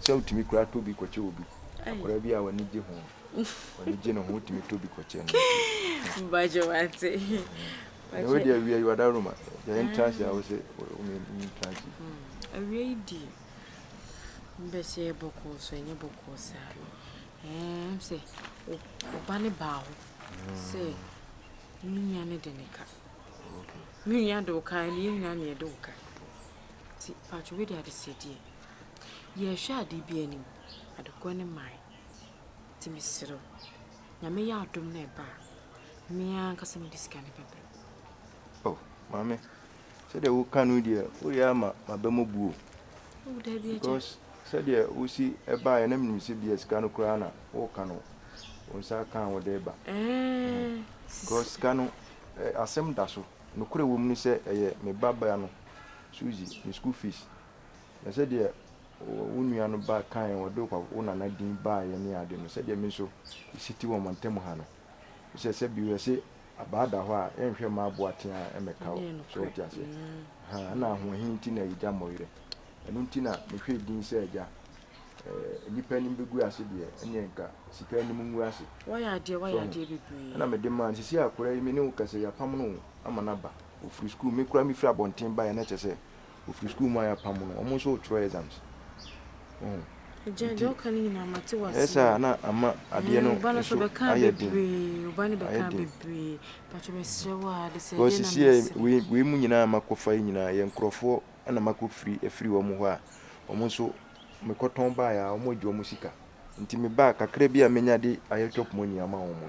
sɛ wotumi koraa tɔ bi kɔkyɛ obi. Akwadaa bi a w'ani gye ho, w'ani gye ne ho, wotumi tɔ bi kɔkyɛ no. Mbagye wate. Na wo deɛ awia yi wada Roma, deɛ entrance a wosɛ wome entrance. Awia yi di, mbɛ sɛ yɛ bɔkɔɔ so ɛnyɛ bɔkɔɔ saa. Ɛɛm sɛ ɔba ne baa hɔ sɛ me nua ne de ne ka. Me nua de wo ka, ɛne yɛ nyinaa ne yɛde wo ka. Ti patwo wei deɛ adesɛdeɛ. Yɛhwɛ ade bi anim, ade korɔ ne mmae. Nti mesrɛ wo, Nyame yɛ adom na ɛba a, me ara ankasa mede sika no bɛbrɛ wo. Oh, Maame, sɛdeɛ woka no deɛ, woreyɛ ama m'aba mu abu o. Oh, daabi agya. Because sɛdeɛ wosi baeɛ na menim sɛ bia sika no koraa na woreka no, wo nsa aka a wode reba. Ɛɛɛ. Because sika no, asɛm da so. Nokorɛ wɔ mu ne sɛ ɛyɛ me babaa no, Suzy, ne school fees. Na sɛdeɛ wo nua no ba kaeɛ, wɔde wo nana din baeɛ ne ade no, sɛdeɛ me nso si te wɔ mo ntam ha no, sɛ sɛ bio yɛse abaa da hɔ a, yɛnhwɛ mma aboa teaa mmɛka wo. So wote aseɛ? Ahaa, ɛnna ahoɔhene nti na yɛgya mo werɛ. Ɛno nti na mehwɛɛ din sɛ agya. Ɛɛ, nnipa anim bɛgu ase deɛ, ɛnneɛ nka sika anim ngu ase. Woayɛ adeɛ, woayɛ adeɛ bebree. Ɛnna mede maa no. Seesei akwadaa yi, me ne wo kasa yi, yɛapam no ama no aba. Ɔfiri sukuu. Me koraa mefiri abɔnten baeɛ, na kyerɛ sɛ Ɔfiri sukuu mu a yɛapam no, wɔn nso retwerɛ exams. Nti, ɛyɛ saa a na ama adeɛ no nso ayɛ den, ayɛ den. Because seesei wei wei mu nyinaa a makɔfa yi nyinaa yɛ nkurɔfoɔ na makɔfiri afiri wɔn hɔ a wɔn nso mekɔtɔn baeɛ a wɔagye wɔn sika. Nti me ba a kakra bi a menya de ayɛ chop money ama wɔn no,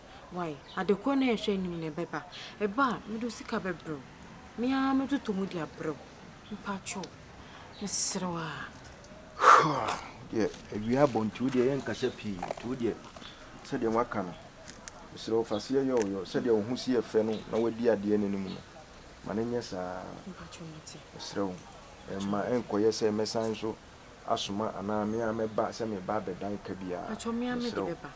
Wai, ade koro na yɛhwɛ anim na ɛbɛba. Ɛba a, mede wo sika bɛbrɛ wo. Me ara mɛtotɔ mu de abrɛ wo. Mpakyɛ o, mesrɛ wo a. Hua, wo deɛ, awia abɔ nti wo deɛ yɛnkasa pii. Nti wo deɛ, sɛdeɛ woaka no, mesrɛ wo, fa seɛ yɛ wo yɔ. Sɛdeɛ wo ho si yɛ fɛ no na woadi adeɛ no anim no, ma no nyɛ saa ara. Mpakyɛ o, mate. Mesrɛ wo, mma ɛnkɔyɛ sɛ mɛsan nso asoma anaa me ara mɛba sɛ mereba abɛdan ka biara. Mpakyɛ o, me ara mede bɛba.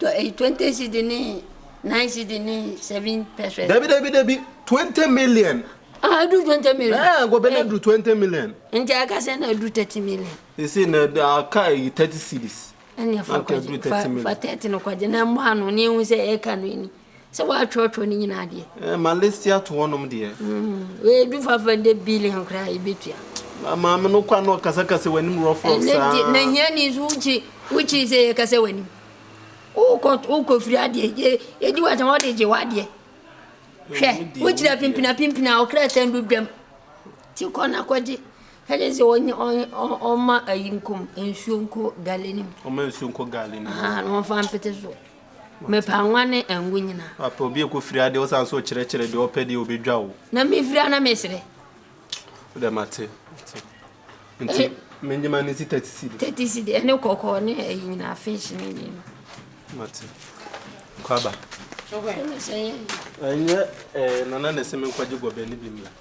Tɔ eyi twenty cedi ne nine cedi ne seven pesewas. Dabi dabi dabi twenty million. Ah edu twenty million. Ɛɛ eh, gobe na edu twenty million. Nti aka sɛ na edu thirty million. Esi na aka eyi thirty cedis. Ɛnna fa kɔgye fa fa thirty no kɔgye na mmoa no ne ehu sɛ ɛka no ni. sɛ wɔatwerɛtwerɛ no nyinaa deɛ eh, ma list ato hɔnom deɛ ɛdu fafa dɛ billion koraa yɛbɛtua maame no kwa no ɔkasakasa w'anim rɔfrɔf saa na hiani nso wokyi wokyi sɛ yɛkasa w'anim wokɔfiri adeɛ ɛdi wɔ sɛ wɔde gye w'adeɛ hwɛ wokyiri apimpina pimpina ɔkra sɛn do dwam nti kɔ na kɔgye ɛne sɛ ɔma ayi nkom nsuo nkɔ gale no mu ɔma nsuo nkɔ gale no mu na ɔmfa mpete so Mepa nwa ne ngo nyina. Apɛ obi ɛkɔ firi adeɛ wosan so kyerɛ kyerɛ deɛ ɔpɛ deɛ ɔbɛ dwa wo. Na me firi a na me srɛ. Wodɛ mate mate nti me nyima ne si thirty cedi. Thirty cedi ɛne kɔkɔɔ ne ɛyi nyina fish ne deɛ no. Mate kwaba. Ɛnyɛ ɛɛ nana na ɛsɛ me nkɔgye gɔbɛ ne bi mmra.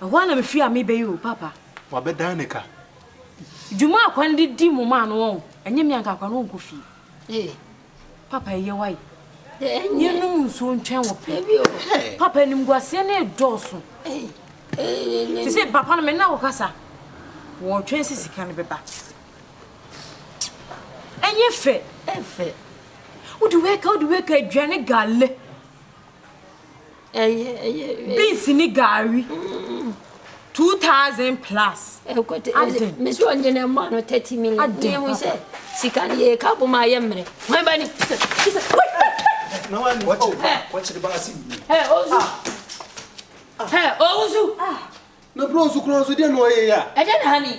Ɛhɔ ara na mefiri a meba yi o, Papa. Wabɛdan ne ka. Dwuma a Kwani de di mo maa no wɔn, ɛnyɛ me a nka Kwani ɔnkɔ fie. Ee. Papa ɛyɛ wae. Yɛnum nsuo ntwɛn wɔ pɛ. Papa animguaseɛ no redɔɔso. Te sɛ papa no me nna wɔkasa. Wɔretwɛn sɛ sika no bɛba. Ɛnyɛ fɛ. Ɛfɛ. Wode wɛka wode wɛka aduane gale. Beans ne gari two thousand plus. Ɛkɔtɛ ɛdi mesi wɔn gyina ɛmɔ ano thirty million. Adi ehu sɛ sika ni yɛ ka bɔ mu ayɛ mmerɛ. Wɔn ba ni kisa kisa. Na wɔn ni wɔkyerɛ ba wɔkyerɛ ba asi mi. Ɛ ozu. Ɛ ozu. Na bro nsu kura nsu deɛ na ɔyɛ ya. Ɛdɛ na ha ni.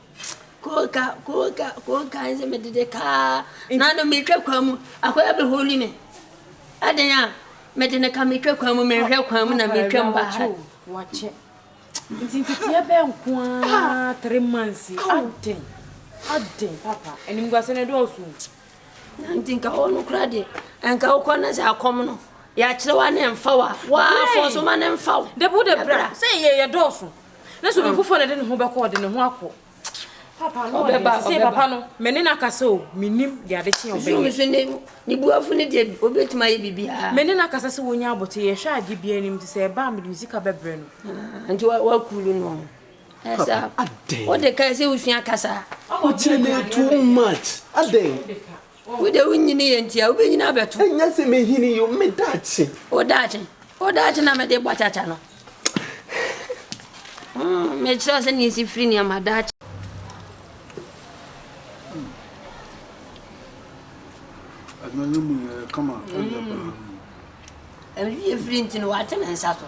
Koka, koka, koka nse me dede kaa. Na no me twa kwa mu. Akoya be holi me. Aden a me de ne ka me twa kwa mu, me hwe kwa mu na me twa mba ha. Wache. Nti nteteɛ bɛn nko ara three months yi aden aden papa animguase no dɔɔso nti nka hɔ no kora deɛ nka wokɔ no sɛ akɔm no yɛakyerɛ wa ne mfa wa waafɔ so ma ne mfa wo dabi wode bra sɛ yɛyɛ dɔɔso ne so nkurɔfoɔ na ɛde ne ho bɛkɔ ɔde ne ho akɔ papa no ɔbɛba sɛ papa no mɛ ne no akasa o menim de ade kye ɔbɛyɛ ne buafo no deɛ ɔbɛtumi ayɛ biribiaa mɛ ne no akasa sɛ wɔnya abote yɛhwɛ ade bia anim nti sɛ ɛba a mede me sika bɛbrɛ no ah, nti wakuru no ɛsɛ wode kae sɛ wosua kasa wokyerɛ ne too much adɛn Wo de wo nyini yɛ nti a, wobɛnyini abɛto. Ɛnyɛ sɛ mɛhini yi o, me daakye. Wo daakye, wo daakye na mede bɔ kyakya no. Mm, mekyerɛ sɛ ne ɛsi firi nneɛma daakye. Ɛno yɛ mu yɛ kama, ɛyɛ paa. Ɛyɛ firi nti no, wate ne nsa so.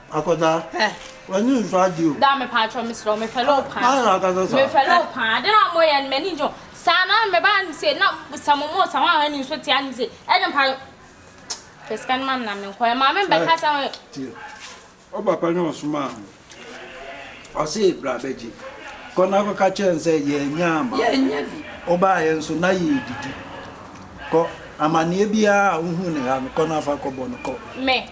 Akwadaa, eh. w'ani nsɔ ade o. Daa mepaakyɛw mesrɛ wo, mepɛ lɔɔ paa. Maa na akasa saa. Mepɛ lɔɔ paa. Ade na mo yɛ no m'ani gye ho. Saa na meba anim se na sɛ mo mo sa ho ahwɛ ni nso te anim se. Ɛde mpa. Pɛ sika no ma me na me nkɔ. Ɛma me mbɛka sɛ ho. Tie. Wo papa na ɔsomaa ho. Ɔse bra bɛgye. Kɔ na kɔka kyerɛ no sɛ yɛanya ama. Yɛanya bi. Wobaeɛ nso na yɛredidi. Kɔ. Amanneɛ biara a wohu no ha no kɔ na fa kɔbɔ no kɔ. Me.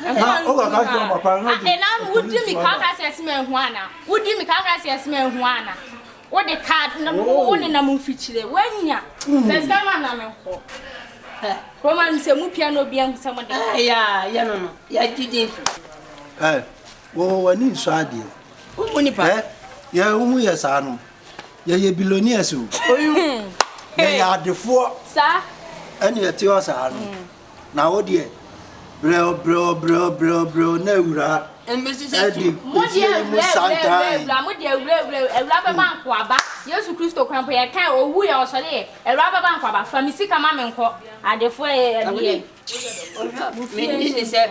Ɛhɔ a nsu a ɛna no wodi mi kan kan sɛ ɛsɛ ma ehu ana wodi mi kan kan sɛ ɛsɛ ma ehu ana wode ka na wo ne nam mfikyire wanya sɛsɛ ma nam nkɔ ɛ roma mi sɛ mu pia na obi ahu sɛ mo de ka ɛ ya yɛ no no ya didi nso ɛ wɔ wɔ ni nso adeɛ o mu nipa ɛ yɛ wo mu yɛ saa no yɛ yɛ bilonias o yɛ yɛ adefoɔ saa ɛne ɛte hɔ saa no. Na wo deɛ, brɛo brɛo brɛo brɛo brɛo na awuraa ɛde efie yi mu santan. Bra mo deɛ awura awura awura bɛba hmm. nko aba Yesu Kristo kwan po yɛ kan owu yɛ ɔsɔre yɛ awura bɛba nko aba fa mi sika ma me nkɔ adefoɔ yɛ ɛdeɛ. Mene ne sɛ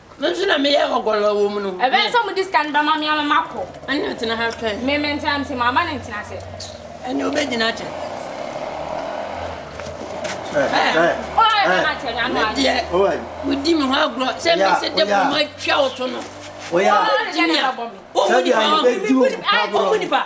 Me nso na meyɛ hɔgɔlɔ wɔ mu no. Ɛbɛyɛ sɛ wɔde sika no bɛma me ama makɔ. Ɛnna tena ha twɛn. Me mentena nti ma ama no ntena ase. Ɛnna wobɛgyina akyɛ. Medeɛ wodi me ho agorɔ sɛ mesɛ dɛ bɔ matwa wo to no. Wohu nipa.